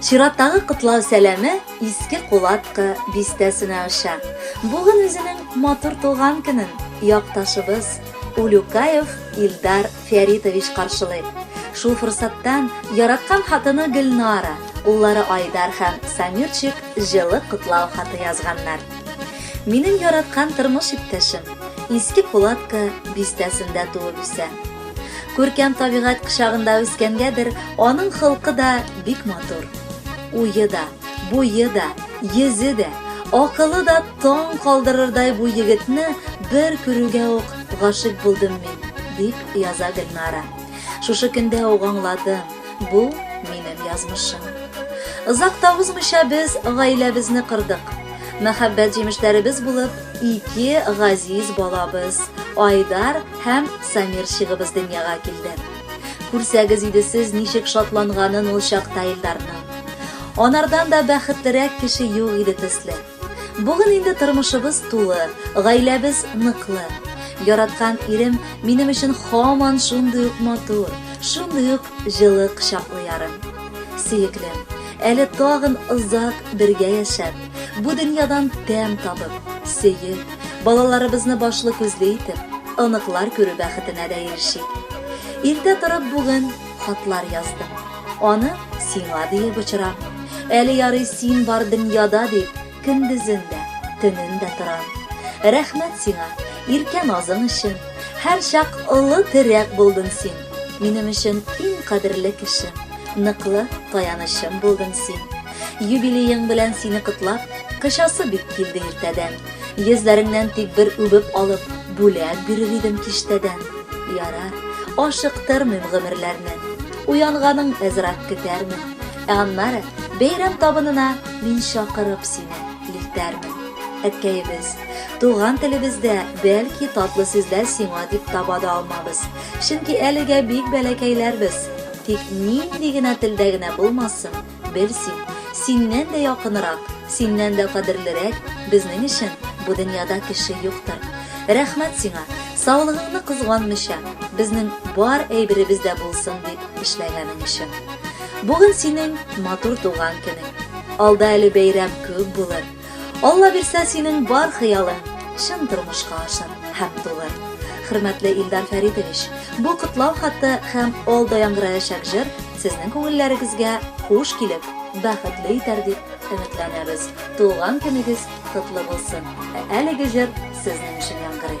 Чираттагы котлау сәләме Иске Кулатка бистәсенә оча. Бүген үзенең матур туган көнен якташыбыз Улюкаев Илдар Фәритович каршылый. Шул форсаттан яраткан хатыны Гөлнара, уллары Айдар һәм Самирчик җылы котлау хаты язганнар. Минем яраткан тормыш иптәшем Иске Кулатка бистәсендә туып үсә. Күркәм табигать кочагында үскәнгәдер, аның холкы да бик матур. Уе да, буе да, йөзе дә, акылы да таң калдырырдай бу егетне бер күрүгә үк гашыйк булдым мин, дип яза Гөлнара. Шушы көндә үк аңладым, бу минем язмышым. Озак та узмыйча без гаиләбезне кырдык. Мәхәббәт җимешләребез булып ике газиз балабыз, Айдар Һәм Самир чигыбыз дөньяга килде. Күрсәгез иде сез ничек шатланганын ул чакта Илдарның. Анардан да бәхетлерәк кеше юк иде төсле. Бүген инде тормышыбыз тулы, гаиләбез ныклы. Яраткан ирем минем өчен хаман шундый ук матур, шундый ук җылы кочаклы ярым. Сөеклем, әле тагын озак бергә яшәп, бу дөньядан тәм табып, сөеп, Балаларыбызны башлы-күзле итеп, оныклар күрү бәхетенә дә ирешик. Иртә торып бүген хатлар яздым. Аны сиңа диеп очырам. Әле ярый син бар дөньяда дип, көндезен дә, төнен дә торам. Рәхмәт сиңа, иркә назың өчен. Һәрчак олы терәк булдың син. Минем өчен иң кадерле кешем, ныклы таянычым булдың син. Юбилеең белән сине котлап, кычасы бик килде иртәдән. Йөзләреңнән тик бер үбеп алып, бүләк бирер идем киштәдән. Ярар, ашыктырмыйм гомерләрне, уянганың әзрак көтәрмен. Ә аннары бәйрәм табынына мин чакырып сине илтәрмен. Әткәебез, туган телебездә бәлки татлы сүзләр сиңа дип таба да алмабыз. Чөнки әлегә бик бәләкәйләрбез. Тик нинди генә телдә генә булмасын, Бел син, синнән дә якынырак, синнән дә кадерлерәк безнең өчен бу дөньяда кеше юктыр. Рәхмәт сиңа, саулыгыңны кызганмыйча, безнең бар әйберебез дә булсын дип эшләгәнең өчен. Бүген синең матур туган көнең. Алда әле бәйрәм күп булыр. Алла бирсә, синең бар хыялың чын тормышка ашыр һәм тулыр. Хөрмәтле Илдар Фәритович, бу котлау хаты һәм алда яңгыраячак җыр сезнең күңелләрегезгә хуш килеп, бәхетле итәр дип өметләнәбез. Туган көнегез котлы булсын! Ә әлеге җыр сезнең өчен яңгырый.